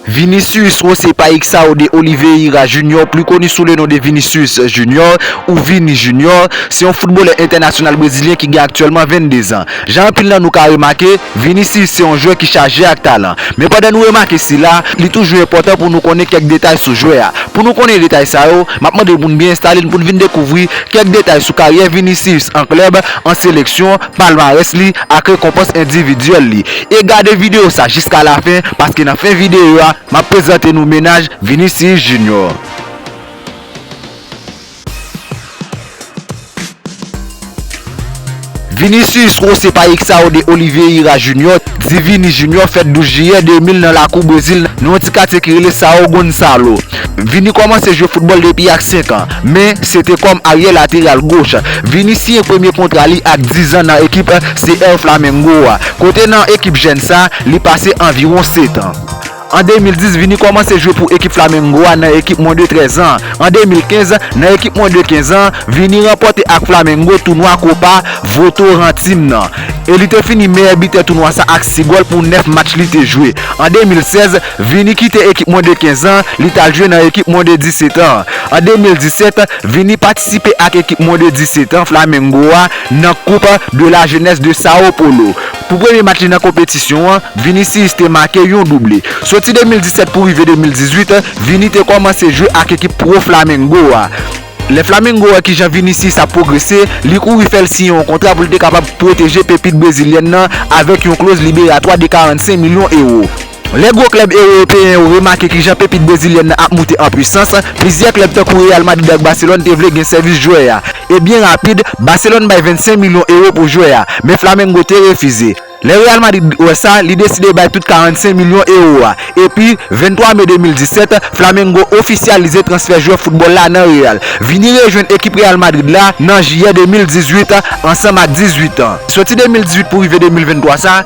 Vinicius José Paixao de Oliveira Junior, pli koni sou le non de Vinicius Junior ou Vini Junior, se yon foutbolè entènasyonal brezilyen ki gen aktyèlman 22 zan. Jan anpil nan nou ka remake, Vinicius se yon jwè ki chaje ak talan. Men pandan nou remake sila, li toujou enpòtan pou nou konnen kèk detay sou jwè a. Pou nou konnen detay sa yo, m ap mande pou n byen enstale n pou n vin dekouvri kèk detay sou karyè Vinicius an klèb, an seleksyon, palmarès li ak rekonpans endividyèl li e gade video sa jiska la fen paske nan fen video a map prezante nou mennaj Vinicius Junior. Vinicius José Paixao de Oliveira Junior di Vini Junior fèt 12 jiyè 2000 nan lakou Brezil nan yon ti katye ki rele Sao Gonçalo Vini kòmanse jwe foutbòl depi ak 5 an, men se te kòm aryè lateral goch. Vini siyen premye kontra li ak 10 zan nan ekip CR Flamengo a, kote nan ekip jèn sa, li pase anviwon 7 an. An 2010, Vini kòmanse jwe pou ekip Flamengo a nan ekip mwen de 13 zan. An 2015, nan ekip mwen de 15 zan, Vini ranpòte ak Flamengo tounwa Copa Votorantim nan, e li te fini meyè bitè tounwa sa ak 6 gòl pou 9 match li te jwe. An 2016, Vini kite ekip mwen de 15 an, li t al jwe nan ekip mwen de 17 an. An 2017, Vini patisipe ak ekip mwen de 17 an, Flamengo a, nan Coupe de la Jeunesse de Sao Paulo. Pou premye match li nan konpetisyon an, Vinicius te make yon double. Soti 2017 pou rive 2018, Vini te kòmanse jwe ak ekip pwo Flamengo a. Lè Flamengo wè kijan Vinicius ap pwogrese, li kouri fè l siyen yon kontra pou l te kapab pwoteje pepit brezilyèn nan avèk yon kloz liberatwa de 45 milyon ewo. Lè gwo klèb ewopeyen yo remake ki jan pepit brezilyèn nan ap moute an pwisans, plizyè klèb tankou Real Madrid ak Barcelone te vle gen sèvis jwè a, e byen rapid, Barcelone bay 25 milyon ewo pou jwè a, men Flamengo te refize. Lè Real Madrid wè sa, li deside bay tout 45 milyon ewo a, epi, 23 me 2017, Flamengo ofisyalize transfè jwè foutbòl la nan Real, vini rejwenn ekip Real Madrid la nan jiyè 2018, ansanm ak 18 an. Soti 2018 pou rive 2023 sa,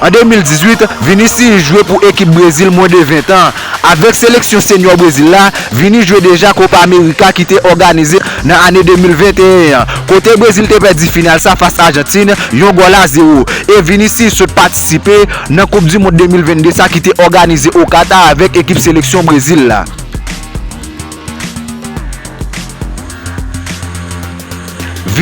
An 2018, Vinicius jwe pou ekip Brezil mwen de 20 tan. Avèk seleksyon senyò Brezil la, Vini jwe deja Copa America ki te òganize nan ane 2021 an, kote Brezil te pèdi final sa fas Ajantin yon gòl a zewo, e Vinicius sot patisipe nan koup du mond 2022 sa ki te òganize o Qatar avèk ekip seleksyon Brezil la.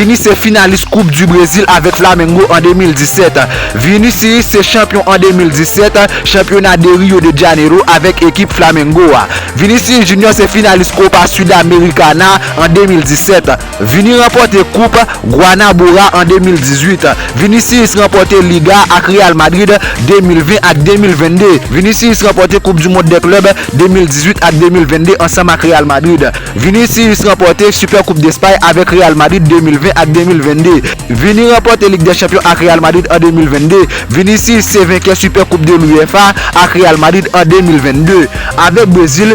Vini se finalis koup du Brezil avèk Flamengo an 2017. Vinicius se chanpyon an 2017 chanpyona de Rio de Janeiro avèk ekip Flamengo a. Vinicius Junior se finalis Copa Sudamericana an 2017. Vini ranpòte koup Guanabora an 2018. Vinicius ranpòte Liga ak Real Madrid 2020 ak 2022. Vinicius ranpòte koup du mond dè klèb 2018 ak 2022 ansanm ak Real Madrid. Vinicius ranpòte Super Coupe d'Espagne avèk Real Madrid 2020 ak 2022. Vini ranpòte Lig dè Chanpyon ak Real Madrid an 2022. Vinicius se venkè Super Coupe de l'UEFA ak Real Madrid an 2022. Avèk Brezil,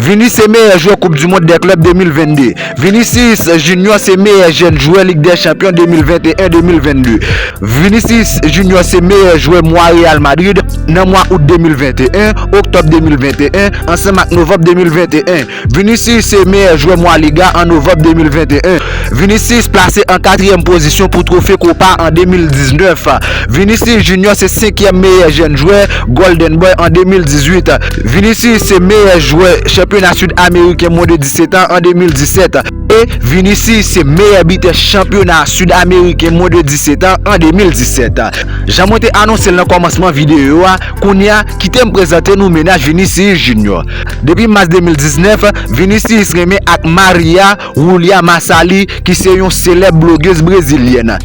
Vini se meyè jwè koup du mond dè klèb 2022. Vinicius Junior se meyè jèn jwè lig dè chanpyon 2021, 2022. Vinicius Junior se meyè jwè mwa Real Madrid nan mwa out 2021, oktòb 2021, ansanm ak novanb 2021. Vinicius se meyè jwè mwa Liga an novanb 2021. Vinicius plase an katriyèm pozisyon pou twofe Copa an 2019. Vinicius Junior se senkyèm meyè jèn jwè Golden Boy an 2018. Vinicius se meyè jwè chanpyona Sid Ameriken mwen de 17 an an 2017 e Vinicius se meyè bitè chanpyona Sid Ameriken mwen de 17 an an 2017. Jan mwen te anonse l nan kòmansman videyo a, kounye a kite m prezante nou mennaj Vinicius Junior. Depi mas 2019, Vinicius renmen ak Maria Julia Massali ki se yon selèb blogez brezilyèn.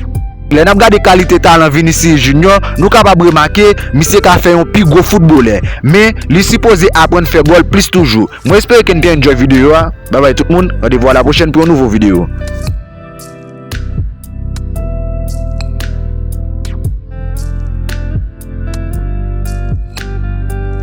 Lè n ap gade kalite talan Vinicius Junior, nou kapab remake misye ka fè yon pi gwo foutbolè, men li sipoze aprann fè gòl plis toujou. Mwen espere ke n te enjoy videyo a, bye bye tout moun, randevou a la pwochèn pou yon nouvo videyo.